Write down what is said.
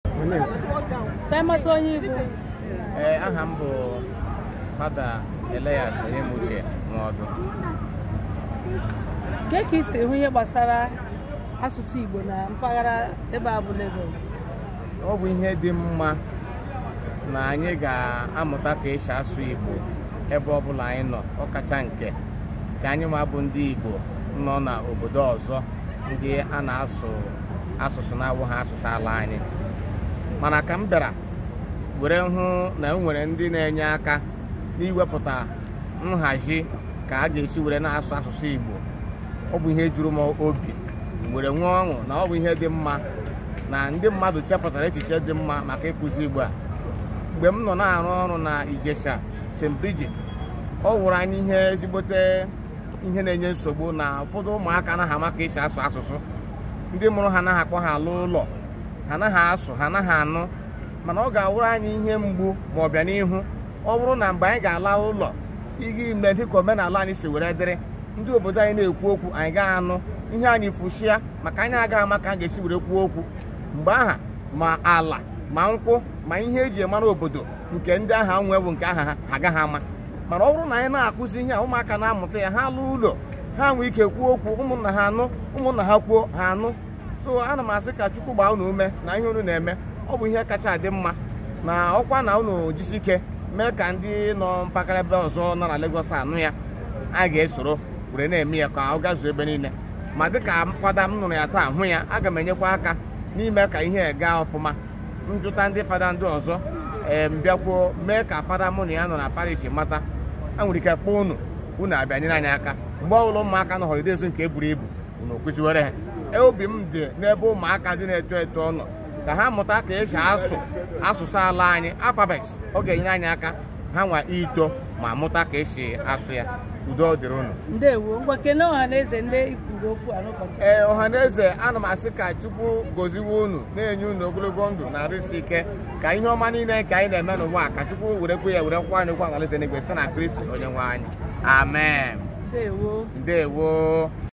ka anyị mata onye ị bụ ee aha m bụ fada Elias Onyemuche Nwaọdụ kee ka i si hụ ihe gbasara asụsụ Igbo na mpaghara ebe a bụ Lagos ọ bụ ihe dị mma na anyị ga-amụta ka esi asụ Igbo ebe ọ bụla anyị nọ ọkacha nke ka anyịnwa bụ ndị Igbo nọ n'obodo ọzọ ndị a na-asụ asụsụ na-awụghị asụsụ ala anyị mana ka m bịara were hụ na o nwere ndị na-enye aka n'iwepụta nhazi ka a ga-esi were na-asụ asụsụ Igbo ọ bụ ihe juru m obi were nwee ọṅụ na ọ bụ ihe dị mma na ndị mmadụ chepụtara echiche dị mma maka ịkụzi Igbo a mgbe m nọ na-arụ ọrụ na Ijesha St. Bridget ọ wụrụ anyị ihe ezigbote ihe na-enye nsogbu na ụfọdụ ụmụaka anaghị ama ka esi asụ asụsụ ndị mụrụ ha anaghị akpọ ha alọ ụlọ ha anaghị asụ ha anaghị anụ mana ọ ga-awụrụ anyị ihe mgbu ma ọ bịa n'ihu ọ bụrụ na mgbe anyị ga-ala ụlọ ịga ime dịka omenala anyị si were dịrị ndị obodo anyị na-ekwu okwu anyị agaghị anụ ihe anyị efushia maka anyị agaghị ama ka a ga-esi were kwuo okwu mgbe aha ma ala ma nkwụ ma ihe eji mara obodo nke ndị aha nwe bụ nke aha ha agaghị ama mana ọ bụrụ na anyị na-akụzi ihe a ụmụaka na-amụta ya ha lọọ ụlọ ha nwee ike kwuo okwu ụmụnna ha anụ ụmụnna ha kwuo ha anụ so ana m asị ka chukwu gbaa unu ume na ihe unu na-eme ọ bụ ihe kacha adị mma na ọkwa na unu jisi ike mee ka ndị nọ mpaghara ebe ọzọ nọ na Lagos anụ ya a ga-esoro were na-eme ya ka ọ gazuo ebe niile ma dịka fada m nụrụ ya taa hụ ya aga m enyekwa aka n'ime ka ihe gaa ọfụma m jụta ndị fada ndị ọzọ ee m bịakwa mee ka fada mụ na ya nọ na parish mata e nwere ike kpọọ unu unu abịa nyere anyị aka mgbe ọbụla ụmụaka nọ holidays nke buru ibu unu akụziwere ha E, obi m dị n'ebe ụmụaka ndị na-eto eto nọ ka ha mụta ka esi asụ asụsụ ala anyị alphabet ọ ga-enyere anyị aka hanwa ito ma mụta ka esi asụ ya udo dịrị unu ndewo ngwa kene ọha na eze ndị i kwuru okwu a n'ụbọchị ee ọha na eze ana m asị ka chukwu goziwe unu na-enye unu ogologo ndụ na arụ isi ike ka ihe ọma niile nke anyị na-eme n'ụwa ka chukwu werekwa ya were kwụkwa anyị ụgwọ n'alaeze n'igwe site na kristi onye nwe anyị amen ndewo ndewo